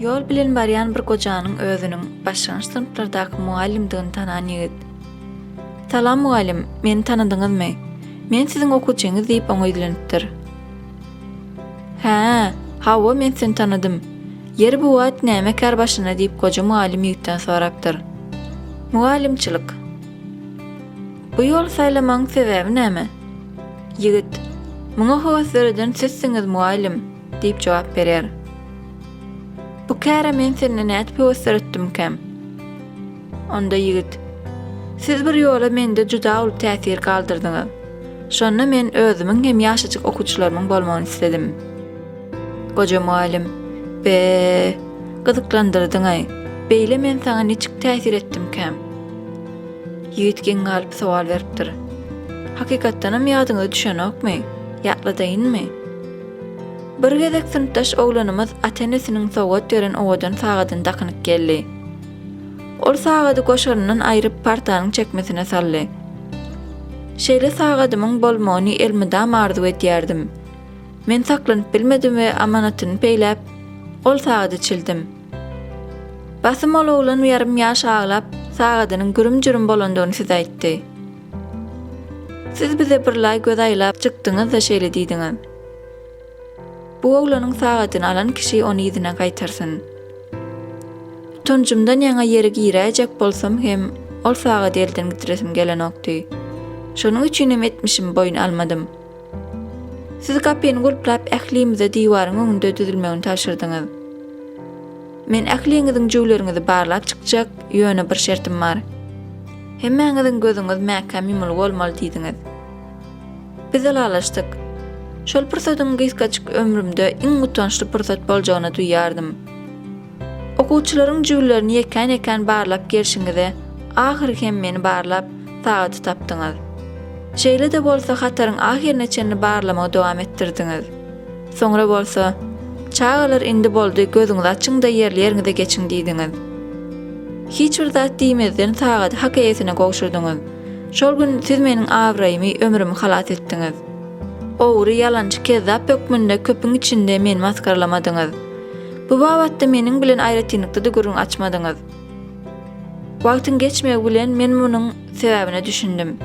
Ýol bilen barýan bir gojanyň özüniň başlangyç synplardaky mugallymdygyny tanan ýigit. Salam mugallym, meni tanadyňyzmy? Men siziň okuwçyňyz diýip oňa ýüzlenipdir. Hä, hawa men seni tanadym. Ýeri bu wagt näme kär başyna diýip goja mugallym ýigitden sorapdyr. Mugallymçylyk. Bu ýoly saýlamagyň sebäbi näme? Ýigit, Muňa höwes döreden sizsiňiz mugallym, diýip jogap berýär. Bu käre men sende nädip höwes döretdimkäm? Onda ýigit, Siz bir ýola mende juda uly täsir galdyrdyňyz. Şonda men özümiň hem ýaşajyk okuwçylarymyň bolmagyny isledim. Goja mugallym, Be, gyzyklandyrdyň-aý. Beýle men saňa niçik täsir etdimkäm? Ýigit geň galyp sowal beripdir. Hakykatdanam ýadyňyza düşenokmy? Ýatladaýynmy? Bir gezek synpdaş oglanymyz ata-enesiniň sowgat beren owadan sagadyny dakynyp geldi. Ol sagady goşaryndan aýryp partanyň çekmesine saldy. Şeýle sagadymyň bolmagyny elmydama arzuw edýärdim. Men saklanyp bilmedim we amanatyny peýläp, ol sagady çildim. Basym ol oglan ýarym ýaş aglap, sagadynyň gürüm-jürüm bolandygyny size aýtdy. Siz bize birlaý göz aýlap çykdyňyz-da şeýle diýdiňiz. Bu oglanyň sagadyny alan kişi ony yzyna gaýtarsyn. Utanjymdan ýaňa ýere giräýjek bolsam hem, ol sagady elden gidresim gelenokdy. Şonuň üçinem etmişimi boýun almadym. Siz gapyny gulplap, ählimize diwaryň öňünde düzülmegini tabşyrdyňyz. Men ähliňiziň jüwleriňizi barlap çykjak, ýöne bir şertim bar. Hemmäňiziň gözüňiz mäkäm ýumulgy bolmaly diýdiňiz. Biz ylalaşdyk. Şol pursatyň gysgajyk ömrümde iň utançly pursat boljagyny duýýardym. Okuwçylaryň jübülerini ýekän-ýekän barlap gelşiňize, ahyry hem meni barlap, sagady tapdyňyz. Şeýle-de bolsa hataryň ahyryna çenli barlamagy dowam etdirdiňiz. Soňra bolsa, Çagalar, indi boldy, gözüňizi açyň-da ýerli-ýeriňize geçiň diýdiňiz. Hiç bir zat diýmezden sagady hak eýesine gowşurdyňyz. Şol gün siz meniň abraýymy, ömrümi halas etdiňiz. Ogry, ýalançy, kezzap hökmünde köpüň içinde meni masgaralamadyňyz. Bu babatda meniň bilen aýratynlykda-da gürrüň açmadyňyz. Wagtyň geçmegi bilen men munuň sebäbine düşündim.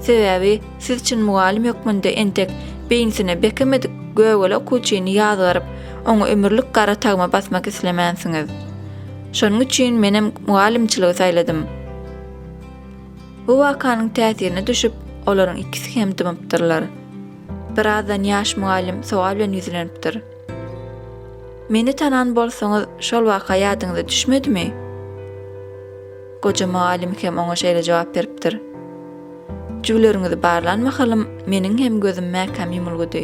Sebäbi siz çyn mugallym hökmünde entek beýnisine bekemedik gögele okuwçyny ýazgaryp, oňa ömürlik gara tagma basmak islemänsiňiz. Şonuň üçin menem mugallymçylygy saýladym. Bu wakanyň täsirine düşüp, olaryň ikisi hem dymypdyrlar. Birazdan ýaş mugallym sowal bilen ýüzlenipdir. Meni tanan bolsaňyz, şol waka ýadyňyza düşmedimi? Goja mugallym hem oňa şeýle jogap beripdir. Jübüleriňizi barlan mahalym, meniň hem gözüm mäkäm ýumulgydy.